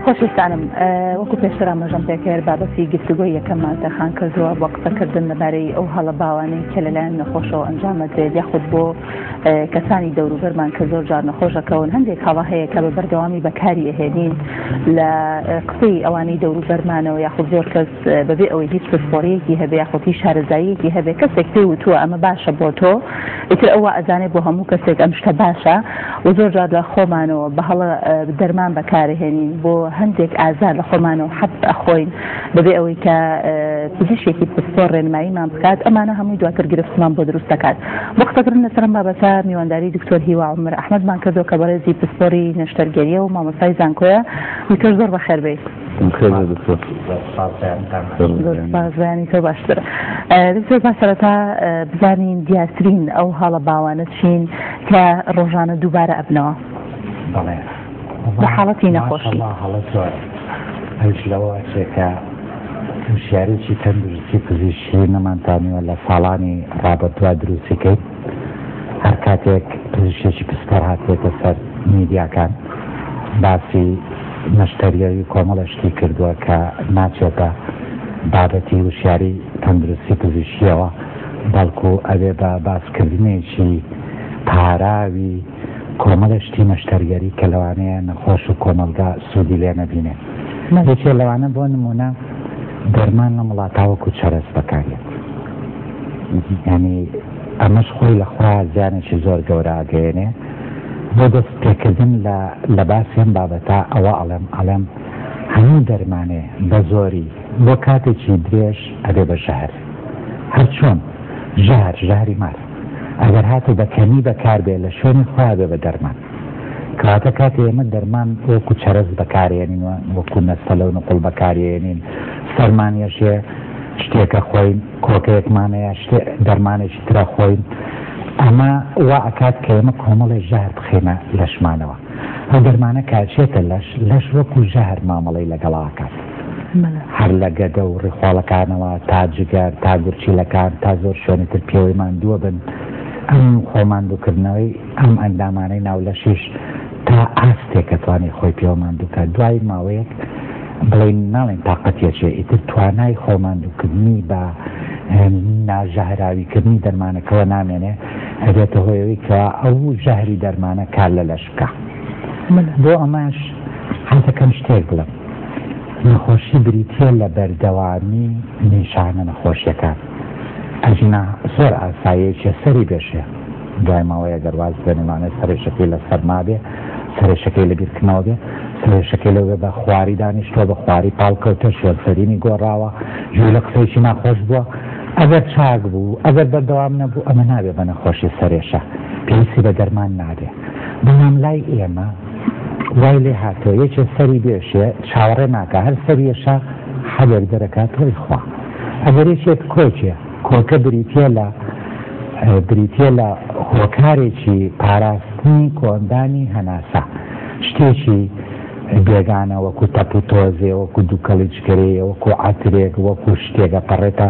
خۆشستانم وەکو پێشتر ئاماژەم پێکرد بابەتی گفتوگۆی یەکەممان تەرخان کردووە بۆ قسەکردن لەبارەی ئەو هەڵە باوانەی کە لەلایەن نەخۆشەوە ئەنجامەدرێت یاخود بۆ کەسانی دەوروبەرمان کە زۆر جار نەخۆش ئەکەون هەندێک هەڵە هەیە کە بە بەردەوامی بەکاری ئەهێنین لە قسەی ئەوانەی دەوروبەرمانەوە یاخود زۆر کەس بەبێ ئەوەی هیچ پسپۆریەکی هەبێ یاخۆتی شارەزاییەکی هەبێ کەسێک پێی وتووە ئەمە باشە بۆ تۆ ئیتر ئەوە ئەزانێ بۆ هەموو کەسێک ئەم شتە باشە و زۆر جار لە خۆمانەوە بە هەڵە دەرمان بەکارهێنین بۆ هەندێک ئازار لە خۆمانەوە حەب ئەخۆین بەبێ ئەوەی کە پزیشێکی پسپۆر ڕێنماییمان بکات ئەمانە هەمووی دواتر گرفتمان بۆ دروست دەکات. بۆ قسەکردن لەسەر ئەم بابەتە میوانداری دکتۆر هیوا عومەر ئەحمەدمان کردووە کە بەڕێزی پسپۆری نەشتەرگەرییە و مامۆستای زانکۆیە. دکتۆر زۆر بەخێربێیت. سپاس دکتۆر. سپاس بەیانتان. زۆر سپاس بەیانی تۆ باشتر. دکتۆر با سەرەتا بزانین دیارترین ئەو هەاڵە باوانە چین کە ڕۆژانە دووبارە ئەبنەوە؟ بەڵێ. لە حاڵەتی نەخۆشی. ماشەڵا هەڵە زۆر ئەویش لەوە ئەچێ کە وشیاریی تەندروستی پزیشکی نەمانتانیوە لە ساڵانی ڕابردووا دروستی کەین هەر کاتێک پزیشێکی پسپۆر هاتێتە سەر میدیاکان باسی مەشتەریەوی کۆمەڵەشتی کردووە کە ناچێتە بابەتی وشیاری تەندروستی پزیشکیەوە بەڵکو ئەوێ بە باسکردنێکی پاراوی کۆمەڵێ شتی نەشتەرگەری کە لەوانەیە نەخۆش و کۆمەڵگا سوودی لێ نەبینێ یەکێ لەوانە بۆ نموونە دەرمان لەم وڵاتا وەکوو چەرەس بەکاردێت یانی ئەمەش خۆی لە خوا زیانێکی زۆر گەورە ئەگەیەنێ بۆ دەست پێکردن لە لە باسی ئەم بابەتە ئەوە ئەڵێم ئەڵێم هەموو دەرمانێ بە زۆری بۆ کاتێکی درێژ ئەبێ بە ژەهر هەرچۆن ژەهر ژەهری مار ئەگەر هاتێ بە کەمی بەکار بێ لە شوێنی خۆیا بێ بە دەرمان. کەواتە کاتێ ئێمە دەرمان وەکوو چەرەس بەکارێنین و وەکوو نەستەلە و نوقڵ بەکاریێنین، سەرمانیش هەیە شتێکە خۆین، کۆکەیەکمان هەیە شتێ دەرمانێکی ترە خۆین، ئەمە وا ئەکات کە ئێمە کۆمەڵێ ژەهر بخەینە لەشمانەوە. ئەو دەرمانە کە ئەچێتە لەش، لەش وەکو ژەهر مامەڵەی لەگەڵ ئاکات. هەر لە گەدە و ڕیخۆڵەکانەوە تا جگەر تا گورچیلەکان تا زۆر شوێنی تر پێوەی ماندووە بن. ئەم خۆ ماندووکردنەوەی ئەم ئەندامانەی ناو لەشیش تا ئاستێکە توانی خۆی پێوە ماندوو بکات. دوای ماوەیەک بڵێین ناڵێین تاقەتی ئەچێ ئیتر توانای خۆ ماندووکردنی بە ناژەهراویکردنی دەرمانەکەوە نامێنێ. ئەبێتە هۆی ئەوەی کە ئەو ژەهری دەرمانە کار لە لەش بکا بۆ ئەمەش حەزەکەم شتێک بڵێم نەخۆشی بریتە لە بەردەوامی نیشانە نەخۆشیەکان ئەژنا زۆر ئاسایەکێ سەری بێشێ دوای ماوەیە گەرواز بێنمانە سەرێشەکەی لە سەرما بێ سەرێشەکەی لە بیرکردنەوە بێ سەرێشەکەی لەوێ بە خواری دانیشتوە بە خواری پاڵکەوتە شوێنسەرینی گۆڕاوە ژوو لە قسەیشی ناخۆش بووە ئەگەر چاک بوو، ئەگەر بەردەوام نەبوو ئەمە نابێ بە نەخۆشی سەرێشە، پێویستی بە دەرمان نابێ، بەڵام لای ئێمە وای لێ هاتووە یەکێ سەری بێشێ چاوەڕێ ناکا هەر سەریەشە حەبێک دەرەکا تۆی خوا ئەگەر یەکێک کۆکێ کۆکە بریتیە لە بریتیە لە هۆکارێکی پاراستنی کۆندانی هەناسە شتێکی بێگانە وەکو تەپ و تۆزێ وەکو دووکەڵی جکەرەیە وەکو عەترێک وەکو شتێکە پەڕێتە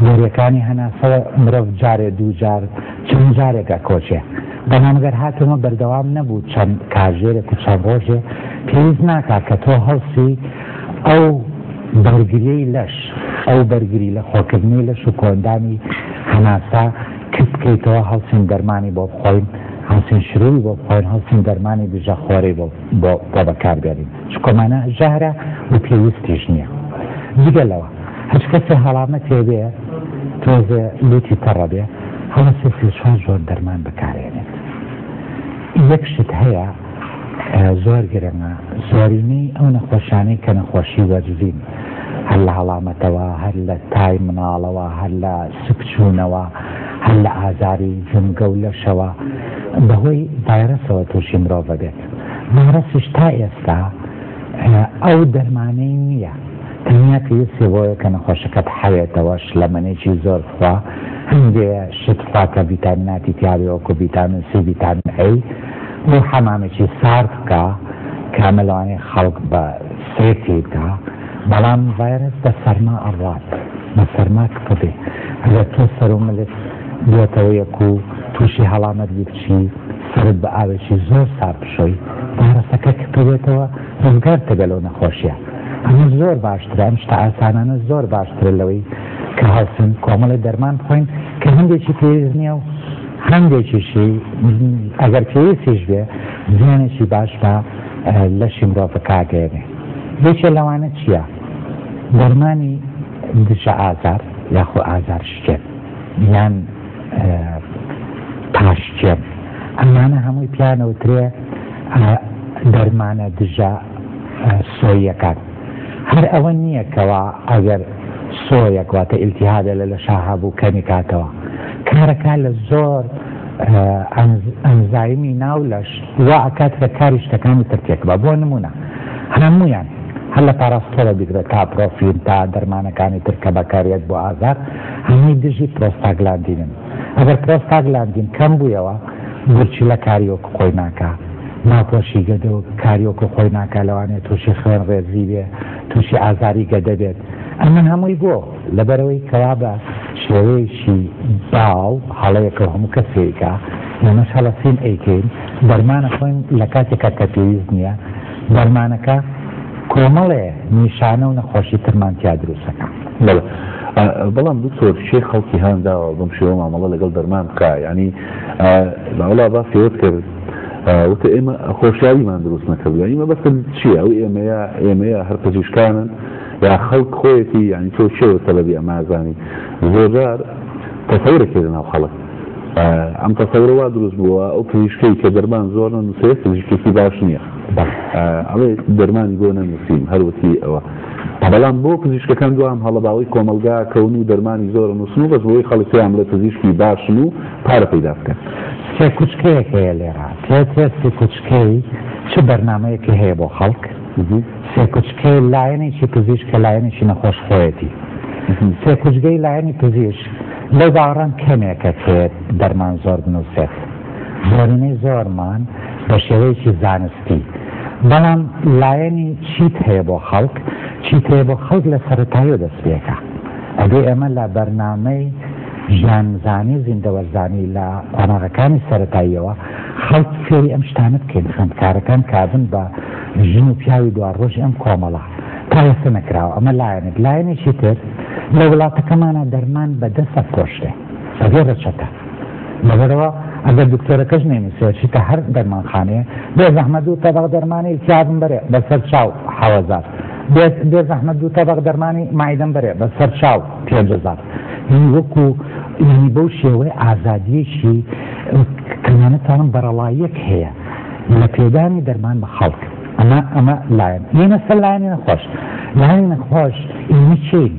بۆریەکانی هەناسەوە مرۆڤ جارێ دوو جار چەند جارێک ئەکۆچێ بەنامگەر هاتەوە بەردەوام نەبوو چەند کاژێرێک و چەند ڕۆژێ پێویست ناکات کە تۆ هەڵسی ئەو بەرگریەی لەش ئەو بەرگری لە خۆکردنی لەش و کۆندانی هەناسا کت بکەیتەوە هەڵسین دەرمانی بۆ بخۆین هەڵسین شروعی بۆ بخۆین هەڵسین دەرمانی دژە خۆرەی بۆ بۆ بۆ بەکار بێنین چونکە مانا ژەهرە و پێویستیش نیە جگە لەوە هەچ کەسێ هەڵامەتێ بێ تۆزێ لوتی تەڕە بێ هەڵەسێ سێ چوار جۆر دەرمان بەکارێنێت یەک شت هەیە زۆر گرنگە زۆرینەی ئەو نەخۆشانەی کە نەخۆشی وەرزین هەر لە هەڵامەتەوە هەر لە تای مناڵەوە هەر لە سکچوونەوە هەر لە ئازاری جومگە و لەشەوە بەهۆی ڤایرەسەوە تووشی مرۆڤ ئەبێت ڤایرەسیش تا ئێستا ئەو دەرمانەی نییە تەنیا پێویستی بۆیە کە نەخۆشەکەت حەوێتەوە شلەمەنێکی زۆر خوا هەندێ شت خوا کە ڤیتامیناتی تیاوی وەکو ڤیتامین سی ڤیتامین ئەی بۆ حەمامێکی سارد بکە کامە لەوانەیە خەڵک بە سێفی بکە بەڵام ڤایرەس بە سەرما ئەڕوات بە سەرما کپە بێ ئەگەر تۆ سەرو ملت بێتەوە یەک و توشی هەڵامەت بی بچی سەرت بە ئاوێکی زۆر سارد بشۆی ڤایرەسەکە کپە بێتەوە ڕزگارت دەبێ لەو نەخۆشیە ئەمە زۆر باشترە ئەم شتە ئاسانانە زۆر باشترە لەوەی کە هەڵسن کۆمەڵی دەرمان بخۆین کە هەندێکی پێویست نییە و هەندێکیشی ئەگەر پێویستیش بێ زیانێکی باش بە لەشی مرۆڤ بەکاردێنێ. یەکێ لەوانە چیە؟ دەرمانی دژە ئازار یاخۆ ئازار شکێن یان پاشکێن ئەمانە هەمووی پیانەوترێ دەرمانە دژە سۆیەکان هەر ئەوە نییە کەوا ئەگەر سۆیەک واتە ئیلتیهادە لە لە شاهابوو کەمی کاتەوە کارەکە لە زۆر ئەنزایمی ناو لەش وا ئەکات کە کاری شتەکانی تر تێکبا بۆ نموونە هەموویان هەر لە پاراستۆرە بیگرە تا پرۆفین تا دەرمانەکانی تر کە بەکاریت بۆ ئازار هەمووی دژی پرۆستاگلاندینن ئەگەر پرۆستاگلاندین کەم بوویەوە گورچیلە کاری وەکو خۆی ناکا ناپۆشی گەدە و کاریۆکو خۆی ناکا لەوانێت تووشی خوێن ڕێزی بێ تووشی ئازاری گەدە بێت ئەمە هەمووی بۆ لەبەرئەوەی کەوا بە شێوەیەکی باو هەڵەیەکەو هەموو کەس پێیکا ئێمەش هەڵەسین ئەیکەین دەرمان ئەخۆین لە کاتێکا کە پێویست نیە دەرمانەکە کۆمەڵێ نیشانە و نەخۆشی ترمان تیا دروستەکە. بەڵام دکتۆر شێ خەڵکی هان داوە بم شێوە مامەڵە لەگەڵ دەرمان بکە ینی باوڵا باسیوت کرد وتە ئێمە خۆشیاریمان دروست نەکردوە ئیمە بەسن چیە ئەو ئێمەیە ئێمەیە هەر پزیشکانن یا خەڵک خۆیەتی یانی تۆ کێ و سەبەبی ئەمە ئەزانی زۆرجار تەسەورەکێ لەناو خەڵک ئەم تەسەورە وا دروست بووە ئەو پزیشکەی کە دەرمان زۆر نەنووسێت پزیشکێکی باش نییە ئەڵێ دەرمانی بۆ نەنووسیم هەروەتی ئەوە بەڵام بۆ پزیشکەکان دوام هەڵەباوەی کۆمەلگا کەون و دەرمانی زۆر نووسن و بەس بۆی خەڵک پێیان بڵێ پزیشکی باشن و پارە پەیدا بکەن سێ کوچکەیەک هەیە لێرە تێ تێستی کوچکەی چ بەرنمەیەکی هەیە بۆ خەڵک سێکوچکەی لایەنێکی پزیشک کە لایەنێکی نەخۆشخۆیەتی سێکوچگەی لایەنی پزیشک لەو باوەڕان کەمێکە کە دەرمان زۆر بنووسێت زۆرینەی زۆرمان بە شێوەیەکی زانستی بەڵام لایەنی چیت هەیە بۆ خەڵک چیت هەیە بۆ خەڵک لە سەرەتایی دەست پێکە ئەدی ئێمە لە بەرنامەی ژیانزانی زیندەوەرزانی لە قۆناغەکانی سەتاییەوە خەڵک فێری ئەم شتانە بکەین خوێندکارەکان کابن بە ژن و پیاوی دواڕۆژی ئەم کۆمەڵە تا ئێستە نەکراوە، ئەمە لایەنێک، لایەنێکی تر لە وڵاتەکەمانا دەرمان بە دە سەد کۆشتێ بەبێ رەچەتە لەبەرەوە ئەگەر دکتۆرەکەش نەینوسێ ئەچیتە هەر دەرمانخانەیە بێزەحمەت دوو تەبەق دەرمانی التیابم بەرێ بەسەر چاو حەوەزار بێزەحمەت دوو تەبەق دەرمانی مایدەم بەرێ بەسەر چاو پێنج هەزار یعنی وەکو یعنی بەو شێوەی ئازادیەکی کەمانەتوانم بەرەڵاییەک هەیە لە پێدانی دەرمان بە خەڵک ئەمە ئەمە لایەن ئێمە سەر لایەنی نەخۆش لایەنی نەخۆش ئێمە چین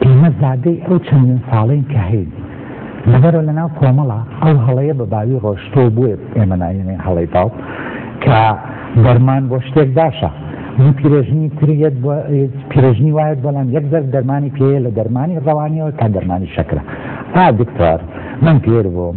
ئێمە زادەی ئەو چەندین ساڵین کە هەین لەبەرەوە لە ناو کۆمەڵە ئەو هەڵەیە بە باوی ڕۆشتۆ بووێ ئێمە ناوێنێ هەڵەی باو کە دەرمان بۆ شتێک باشە من پیرێژنی تریت بۆ پیرێژنی وایەت بەڵام یەک زەر دەرمانی پێەیە لە دەرمانی ڕەوانیەوە تا دەرمانی شەکرە ئا دکتۆر من پێر بووم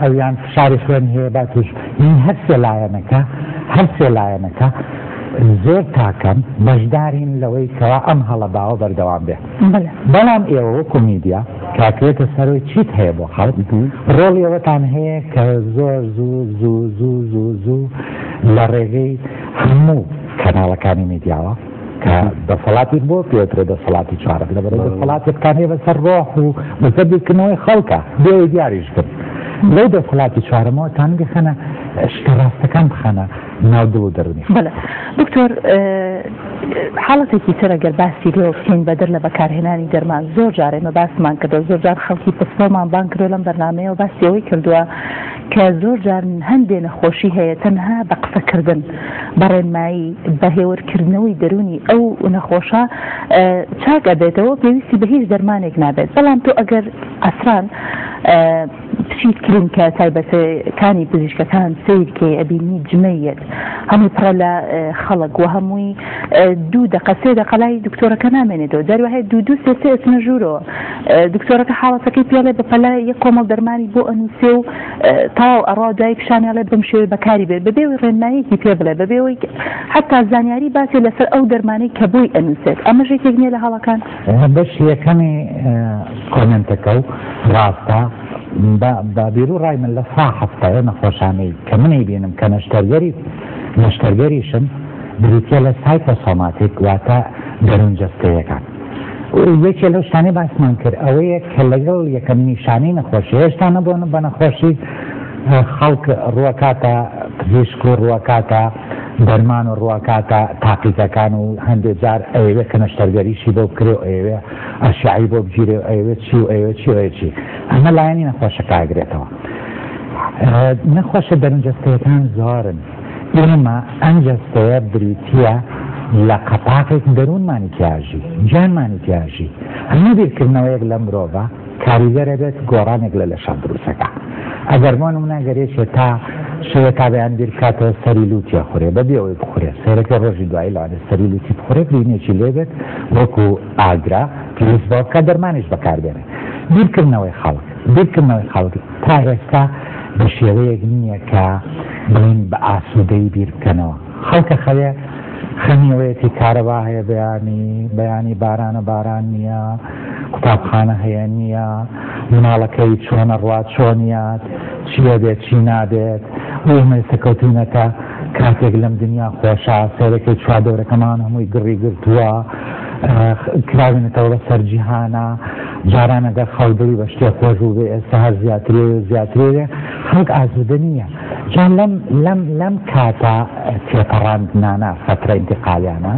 ئەویان فشاری خوێن هەیە با توش یعنی هەر سێ لایەنەکە هەر سێ لایەنەکە زۆر تاکەن بەشدارین لەوەی کەوا ئەم هەڵە باوە بەردەوام بێ بەڵام ئێوە وەکو میدیا کاکرێتە سەرۆی چیت هەیە بۆ خەڵک ڕۆڵ ئێوەتان هەیە کە زۆر زوو زوو زوو زوو زوو لە ڕێگەی هەموو کەناڵەکانی میدیاوە کە دەسەڵاتیک بۆ پێوترێ دەسەڵاتی چارەک لە بەرەی دەسەڵاتێکتان هەیە بەسەر ڕۆح و بەسەر بیرکردنەوەی خەڵکە بێ دیاریش بن لەو دەسەڵاتی چارەمەوە تان بخەنە شتە ڕاستەکان بخەنە ناو دڵ و دەرونی دکتۆر حاڵەتێکی ترە گەر باسی لێ بکەین بەدەر لە بەکارهێنانی دەرمان زۆر جارێمە باسمان کردو زۆرجار خەڵکی پسپۆمان بان کرۆ لەم بەرنمەیەوە باسیەوەی کردووە کە زۆر جار هەندێ نەخۆشی هەیە تەنها بە قسە کردن بە ڕێنمایی بە هێور کردنەوەی دەرونی ئەو نەخۆشە چاک ئەبێتەوە پێویستی بە هیچ دەرمانێک نابێت بەڵام تۆ ئەگەر ئەسران بچیت کلینکە تایبەتە کانی پزیشکەکان سیر کەی ئەبینی جمەیەت هەمووی پڕە لە خەڵک و هەمووی دوو دەقە سێ دەقەلای دکتۆرەکە نامێنێتەوە دەروهەیە دوو دوو سێ سێ ئەچنە ژوورەوە دکتۆرەکە حاڵەتەکەی پێڵێ بەپەلە یەک کۆمەڵ دەرمانی بۆ ئەنووسێ و تەواو ئەڕا دوای پیشانی ئەڵێ بەم شێوەی بەکاری بێ بەبێ ئەوەی ڕێنماییەکی پێ بڵێ بەبێ ئەوەی حەتا زانیاری باتێ لەسەر ئەو دەرمانەی کە بۆی ئەنووسێت ئەمەش یەکێک نیە لە هەڵەکان؟ بەشی یەکەمی کۆمێنتەکە و ڕاستە بە بیرو ڕای من لە سا هەفتایە نەخۆشانەی کە منی بینم کە نەشتەرگەری نەشتەرگەریشم بریتە لە سایتە سۆماتیک واتە دەرونجەستەیەکان یەکێ لەو شتانەی باسمان کرد ئەوەیە کە لەگەڵ یەکەم نیشانەی نەخۆشی هێشتا نەبوون بە نەخۆشی خەڵک ڕوەکاتە پزیشک و ڕوەکاتە دەرمان و ڕوەکاتە تاقیزەکان و هەندێک جار ئەوێ کە نەشتەرگەریشی بۆ بکرێ و ئەوێ ئەشعی بۆ بگیرێ و ئەوێ چی و ئەوێ چی ئەوێ چی ئەمە لایەنی نەخۆشەکە ئەگرێتەوە نەخۆشە دەرونجەستەکان زۆرن ئێمە ئەم جەستەیە بریتییە لە قەپاقێک دەروونمانی تیاژی، گیانمانی تیاژی، هەموو بیرکردنەوەیەک لەم مرۆڤە کاریگەرە بێت گۆڕانێک لە لەشە دروست دەکا. ئەگەر بۆ نموونە گەر یەکێ تا شەوێ تا بەیان بیر بکاتەوە سەری لووتی ئەخورێ بەبێ ئەوەی بخورێ سەیرەکەی ڕۆژی دوایی لەوانەیە سەری لووتی بخورێ برینێکی لێ بێت وەکوو ئاگرە پێویست بەوە بکا دەرمانیش بەکار بێنێ. بیرکردنەوەی خەڵک. بیرکردنەوەی خەڵک تا ئێستا بە شێوەیەک نییە کە بڵێین بە ئاسوودەیی بیر بکەنەوە. خەڵکە خەوێ خەمی ئەوەیەتی کارەبا هەیە بەیانی، بەیانی بارانە باران نییە، قوتابخانە هەیە نییە، مناڵەکەی چۆن ئەڕوات چۆن یات، چی ئەبێت چی نابێت و ئێمە ئێستا کەوتووینە تە کاتێک لەم دنیا خۆشە سەیرەکەی چواردەورەکەمان هەمووی گڕی گرتووە، کراوینەتەوە بە سەر جیهانە. جاران ئەگەر خەڵک دڵی بە شتێک خۆش بووبێ ئێستا هەر زیاترێ و زیاترێ بێ خەڵک ئاسوودە نییە جا لەم لەم لەم کاتە تێپەڕاندنانە فەترە ئینتقالیانە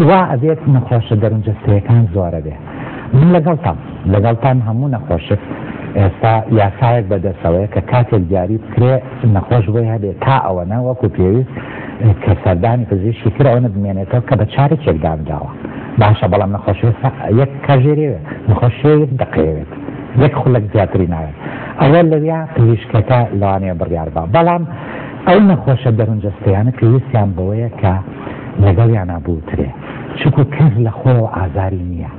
وا ئەبێت نەخۆشە دەرونجەستەیەکان زۆرە بێ من لەگەڵتان لەگەڵتان هەموو نەخۆشک ئێستا یاسایەک بەدەسەوەیە کە کاتێک دیاری بکرێ نەخۆش بۆی هەبێت تا ئەوەنە وەکو پێویست کە سەردانی پزیشکی ترەوەنە بمێنێتەوە کە بە چارێکێک دامداوە باشە بەڵام نەخۆشی یەک کاژێرێوێت نەخۆشێت دەقەوێت یەک خولەک زیاتری ناوێت ئەوە لەویا پزیشکەکە لەوانەیە بڕیار بە بەڵام ئەو نەخۆشە دەرونجەستەیانە پێویستیان بەوەیە کە لەگەڵیانە بوترێ چکو کەس لە خۆەوە ئازاری نییە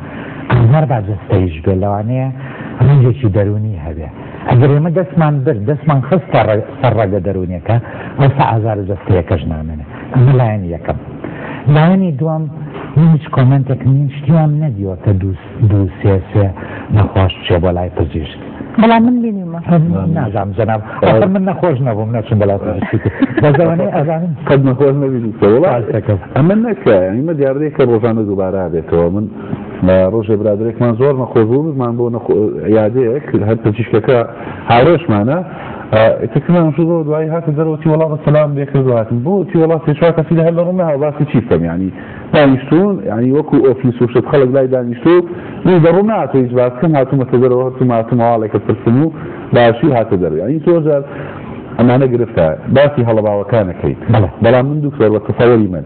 ئازار با جستەیش بێ لەوانەیە ڕنجێکی دەرونی هەبێت ئەگەر ئێمە دەستمان برد، دەستمان خست سەر ڕەگە دەروونیەکە، ئەوسا ئازارە جەستەیەکەش نامێنێ. ئەمە لایەنی یەکەم. لایەنی دووەم، من هیچ کۆمێنتێکم نین، شتی وام نەدیوە کە دوو سێ سێ نەخۆش بچێ بۆ لای پزیشک. بەڵام من بینیومە. نازانم جەناب، ئەخر من نەخۆش نەبووم نەچووم بەلای پزیشکی تر. بەس ئەوەنەی ئەزانم. قەت نەخۆش نەبینیوتەوە. وەڵا ئەمە نەکە، یانی مە دیاردەیەکە ڕۆژانە دووبارە ئەبێتەوە. من. لە ڕۆژێ برادەرێکمان زۆر نەخۆش بوو بزمان بۆ عیادەیەک هەر پزیشکەکە هاورێشمانە تکمان شو زۆر دوایی هاتە دەرەوەتی وڵا بە سەلام لێکرد هاتن بۆ تی وڵات سێچوا کەسی لە هەر لە ڕمە هاوباسی چی بکەم ینی دانیشتون ینی وەکو ئۆفیس و شت خەڵک لای دانیشتو نی دەڕوو ناتۆ هیچ باس کەم هاتوومەتە دەرەوە هەرتو ماتمەواڵێکە پرسن و باشی هاتە دەرو ینی تۆجار ئەمانە گرفتە باسی هەڵەباوەکانەکەیت بەڵام من دوکتۆر بە تەسەوەری من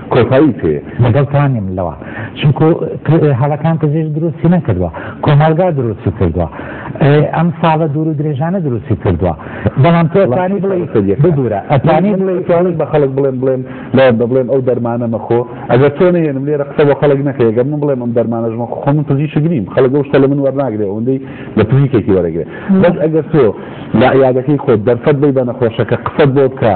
کۆتایی پێ لەگەڵتانیم لەوە چونکو هەڵەکان پزیش دروستی نەکردوە کۆمەڵگا دروستی کردوە ئەم ساڵە دوور و درێژانە دروستی کردوە بەڵام تۆتانی بڵێ بدورە ئەتانی بڵێ بە خەڵک بڵێن بڵێن لایەن بە بڵێن ئەو دەرمانە مەخۆ ئەگەر تۆ نێنم لێرە قسە بە خەڵک نەکەی گەر من بڵێم ئەم دەرمانەش مەخۆ خۆ من پزیش گریم خەڵک ئەو شتە لە من وەرناگرێ ئەوەندەی لە پزیکێکی وەرەگرێ بەس ئەگەر تۆ لە عیادەکەی خۆت دەرفەت بی بە نەخۆشەکە قسەت بۆ بکە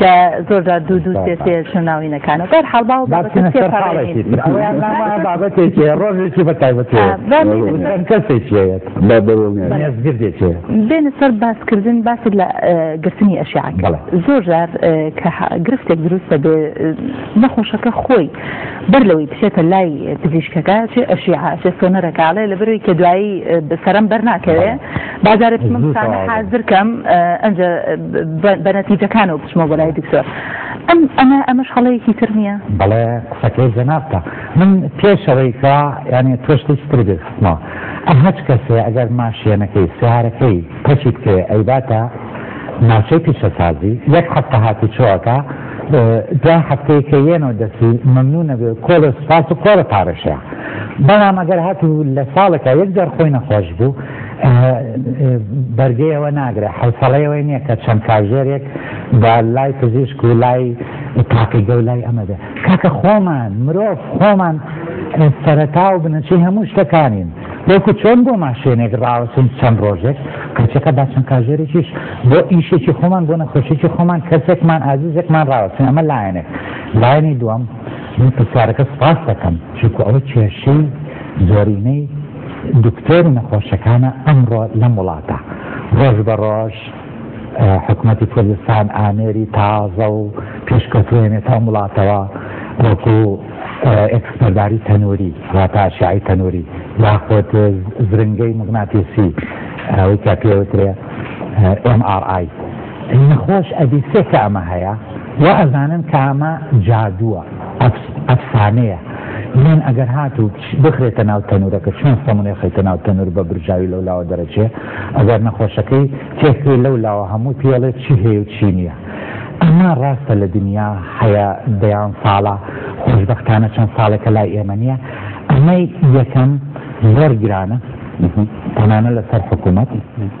کە زۆرجار دوو دوو سێ سێ چون ناوینەکانە بەر حاڵ باو بابەتێکی ڕۆژێکی بە تایبەتێکێکێت بێنە سەر باسکردن باست لە گرتنی ئەشیان زۆر جار کە گرفتێک دروستە بێ نەخۆشەکە خۆی بەر لەوەی بچێتە لای پزیشکەکە چێ ئەشیعە چێ سۆنەرەکە ئەڵێ لەبەروەی کە دوایی سەرم بەر ناکەوێ با جارێ بچمە متانە حازر کەم ئەنجە بە نەتیجەکانەوە بچمەوە بۆ لای دکتۆر ئەم ئەمە ئەمەش هەڵەیەکی تر نییە بەڵێ قسەکەی جەنابتە من پێشەوەی کە یانێ تۆشتێکی تر بێتمەوە ئەم هەچ کەسێ ئەگەر ماشێنەکەی سیارەکەی پەچی بکەوێ ئەیباتە ناوچەی پیشەسازی یەک هەفتە هاتوچۆەکە دوای هەفتەیەکە یێنۆ دەچی مەمنوونە بێ و کۆڵێ سوپاس و قۆڕە پارەشەیە. بەڵام ئەگەر هاتوو لە ساڵێکا یەک جار خۆی نەخۆش بوو، بەرگەی ئەوە ناگرێ، حەوسەڵەی ئەوەی نییە کە چەند کاژێرێک بە لای پزیشک و لای تاقیگە و لای ئەمە بێ. کاکە خۆمان، مرۆڤ، خۆمان سەرەتا و بنەچەی هەموو شتەکانین. وەکو چۆن بۆ ماشێنێک ڕاوەستین چەند ڕۆژێک کەچەکە با چەند کاژێرێکیش بۆ ئیشێکی خۆمان بۆ نەخۆشێکی خۆمان کەسێکمان ئازیزێکمان ڕاوەستین ئەمە لایەنێک لایەنی دووەم من پرسیارەکە سپاس دەکەم چونکو ئەوە کێشەی زۆرینەی دکتۆر و نەخۆشەکانە ئەمڕۆ لەم وڵاتە ڕۆژ بە ڕۆژ حکوومەتی کوردستان ئامێری تازە و پێشکەوتوێنێت هەم وڵاتەوە وەکو ئێکسپەرباری تەنووری واتە ئەشیعەی تەنووری یاخود زرنگەی مغناتیسی ئەوەی کە پێ وترێ MRI نەخۆش ئەبی سێ کە ئەمە هەیە و ئەزانن کە ئەمە جادووە ئەفسانەیە من ئەگەر هاتوو بخرێتە ناو تەنورەکە چۆن سەمونێ خەیتە ناو تەنور بە برژاوی لەو لاوە دەرەچێ ئەگەر نەخۆشەکەی تێکرێ لەو لاوە هەموو پێڵێ چی هەیە و چی نییە ئەمە ڕاستە لە دنیا هەیە دەیان ساڵە، خۆشبەختانە چەند ساڵێکە لای ئێمە نییە. ئەمەی یەکەم زۆر گرانە تەنانەت لەسەر حکوومەت،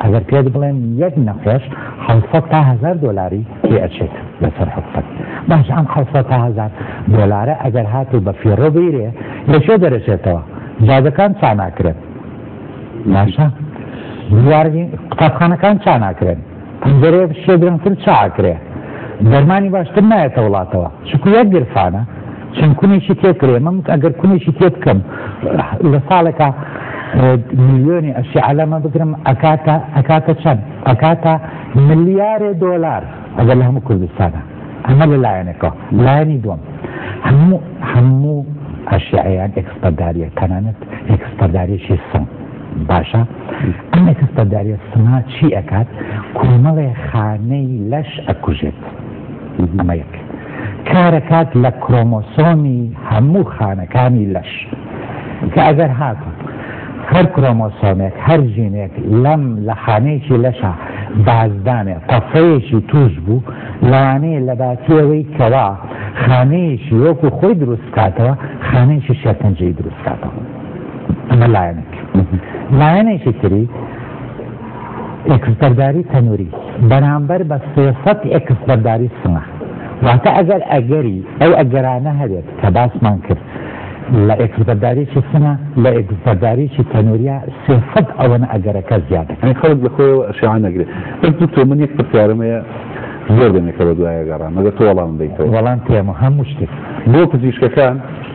ئەگەر پێت بڵێم یەک نەخۆش حەوت سەد تا هەزار دۆلاری پێ ئەچێت لەسەر حکومەت، باشە ئەم حەوت سەد تا هەزار دۆلارە ئەگەر هاتوو بە فیڕۆ بگیرێ لە کوێ دەرەچێتەوە؟ جادەکان چا ناکرێن؟ باشە قوتابخانەکان چا ناکرێن؟ پەنجەرەیە بچیە درەنگتر چ ئاکرێ دەرمانی باشتر نایەتە وڵاتەوە چونکو یەک گرفانە چەند کونێکی تێکرێ من ئەگەر کونێکی تێ بکەم لە ساڵێکا ملیۆنی ئەشیعەلەمە بگرم ئەکاتە ئەکاتە چەند ئەکاتە ملیارێ دۆلار ئەگەر لە هەموو کوردستانە ئەمە لە لایەنێکەوە لایەنی دوم هەموو هەموو ئەشیعەیان ئەکسپەرداریە تەنانەت ئەکسپەرداریشی سم باشە ئەم ئەتەستەداریە سما چی ئەکات کۆمەڵێ خانەی لەش ئەکوژێت ئەمە یەک کارەکات لە کرۆمۆسۆمی هەموو خانەکانی لەش کە ئەگەر هاتوو هەر کرۆمۆسۆمێک هەر ژینێک لەم لە خانەیەکی لەشە بازدانێ تەفەیەکی توش بوو لەوانەیە لە باتیەوەی کەوا خانەیەکی وەکو خۆی دروستکاتەوە خانەیەکی شەکنجەی دروستکاتەوە ئەمە لایەنێک لایەنێکی تری ئێکسبەرداری تەنوری بەرامبەر بە سێسەت ئێکسبەرداری سنە واتە ئەگەر ئەگەری ئەو ئەگەرانە هەبێت کە باسمان کرد لە ئێکسبەرداریی سنە لە ئێکسبەرداریی تەنوریا سێسەت ئەوەنە ئەگەرەکە زیادە خەڵک لە خۆیەوە ئەشیان نەگرێت بەس دکتۆ من یەک پرسیارمەیە زۆر دەمێکەوە دوایە گەڕان مەگە تۆ وەڵام بیت وەڵام پێمە هەموو شتێک بۆ پزیشکەکان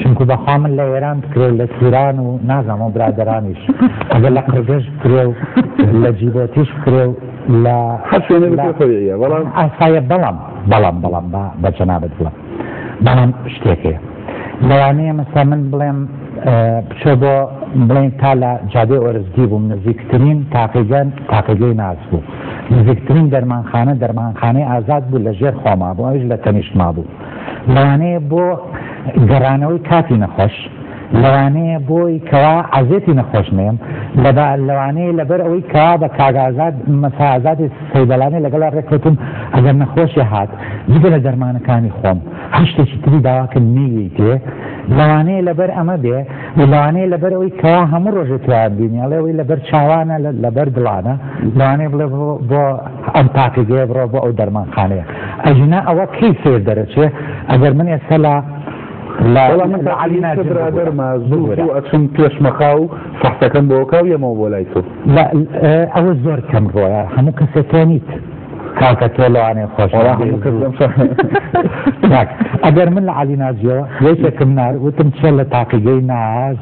چونکو بەخوا من لە ئێران بکرێ و لە توران و نازانم ئەو برادەرانیش ئەگەر لە قرگژ بکرێ و لە جیبۆتیش بکرێ و لە هەر شوێنێ لە- بکرێ خۆیە بەڵام ئاسایە بەڵام بەڵام بەڵام با بە جەنابت بڵێم بەڵام شتێکێ لەوانەیە مەسا من بڵێم اه، بچۆ بۆ بڵێن تا لە جادێ ئۆرزگی بووم نزیکترین تاقیگەن تاقیگەی ناز بوو نزیکترین دەرمانخانە دەرمانخانەی ئازاد بوو لە ژێر خۆما بوو ئەویش لە تەنیشتما بوو لەوانەیە بۆ گەڕانەوەی کاتی نەخۆش، لەوانەیە بۆی کەوا عەزێتی نەخۆش نێم، لەوانەیە لەبەر ئەوەی کەوا بە کاک ئازاد مەسا ئازادی سەیدەڵانێ لەگەڵا ڕێککەوتم ئەگەر نەخۆشێ هات جگە لە دەرمانەکانی خۆم هەر شتێکی تری داواکرد نەیویتێ، لەوانەیە لەبەر ئەمە بێ و لەوانەیە لەبەر ئەوەی کەوا هەموو ڕۆژێ تۆیان بینیاڵێ ئەوەی لەبەر چاوانە لەبەر دڵانە، لەوانەیە بڵێ بۆ ئەم پاکیزەیە بڕۆ بۆ ئەو دەرمانخانەیە ئەژینا ئەوە کەی سەیر دەرەچێ ئەگەر من ئێستا لە وەڵا من علی ناجی برادر ما زوو زوو ئەچم پێش مەخاو فەحسەکەم بۆ کاو یەمەوە بۆ لای تۆ ئەوە زۆر کەم ڕۆیە هەموو کەسەکەنیت کاکە تۆ لەوانێ خۆش ئەگەر من لە علی ناجیەوە یەکێکم نار وتم چێ لە تاقیگەی ناز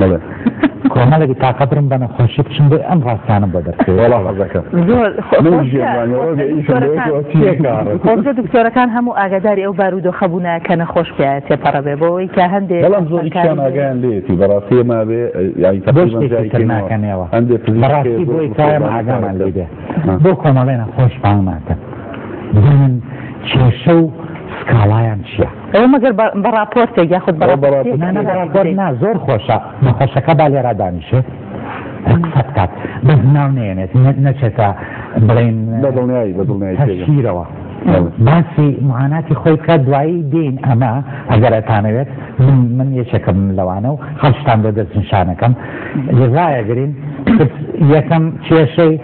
بەڵێ کۆمەڵێکی تاقە برم بە نەخۆشی بچم بۆی ئەم ڕاستانە بۆ دەرکەوێت وەڵا حەزەکە زۆر خۆزگە دکتۆرەکان هەموو ئاگاداری ئەو بار و دۆخە بوونە کە نەخۆش پێ تێپەڕە بێ بۆەوەی کە هەندێک بەڵام زۆر کان ئاگیان لێتی بەڕاستی ما بێ ناکەنەوە هەندێک بەڕاستی بۆی کایم ئاگامان لێ بێ بۆ کۆمەڵێ نەخۆش پاڵ ناکەن چێشە و سکاڵایان چییە؟ ئەوە مەگەر بە بە ڕاپۆرتێک یاخود بە ڕاپۆرتێک نا نا بە ڕاپۆرت نا زۆر خۆشە مەفەشەکە با لێرا دانیشێ قسە بکات بەس ناو نێنێت نەچێتە بڵین بە دڵنیایی بە دڵنیایی تەشیرەوە باسی معاناتی خۆی بکە دوایی دین ئەمە ئەگەرەتانەوێت من یەکێکم لەوانە و هەڵشتان بە دەست نیشانەکەم لەزایەگرین یەکەم کێشەی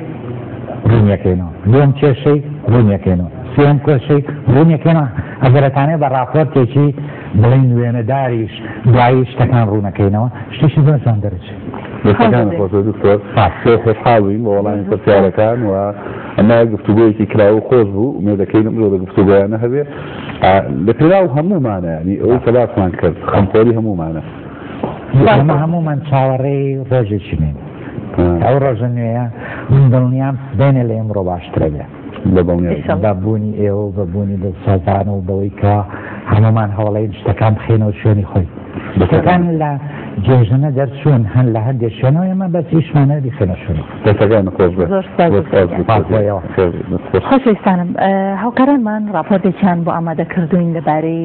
ڕونیەکەینەوە دوم کێشەی ڕونیەکەینەوە سێم کێشەی ڕونیەکەینەوە ئەگەرئەتانەوێ بە ڕاپۆرتێکی بڵێین وێنەداریش دوایی شتەکان ڕوونەکەینەوە شتیشی زۆر جوان دەرچێت. دەستەکان خۆش دکتۆر خۆشحاڵین بە وەڵامی پرسیارەکان و ئەمە گفتوگۆیەکی کراوە و خۆش بوو مێدەکەی لەم جۆرە گفتوگۆیانە هەبێ لە پێراو هەموومانە ینی ئەوەی کە باسمان کرد خەمخۆری هەموومانە ئەمە هەموومان چاوەڕێی ڕۆژێکی نین ئەو ڕۆژە نوێیە من دڵنیام سبێنێ لە ئێمڕۆ باشترە بێ بەدڵنیاییشم بە بوونی ئێوە و بە بوونی دڵسۆزان و بەوەی کە هەمومان هەوڵەین شتەکان بخێنەوە شوێنی خۆی شتەکان لە جێژنە دەرچوون هەن لە هەندێک شوێنەوە ئێمە بەس ئیشمانە بیخێنە شوێنی دەتەکان خۆش بێت. زۆر سپاس بۆ خۆش بێت. پاک بۆیەوە. خێر بێت. خۆش خۆشەویستانم هاوکارانمان راپۆرتێکیان بۆ ئامادە کردوین لەبارەی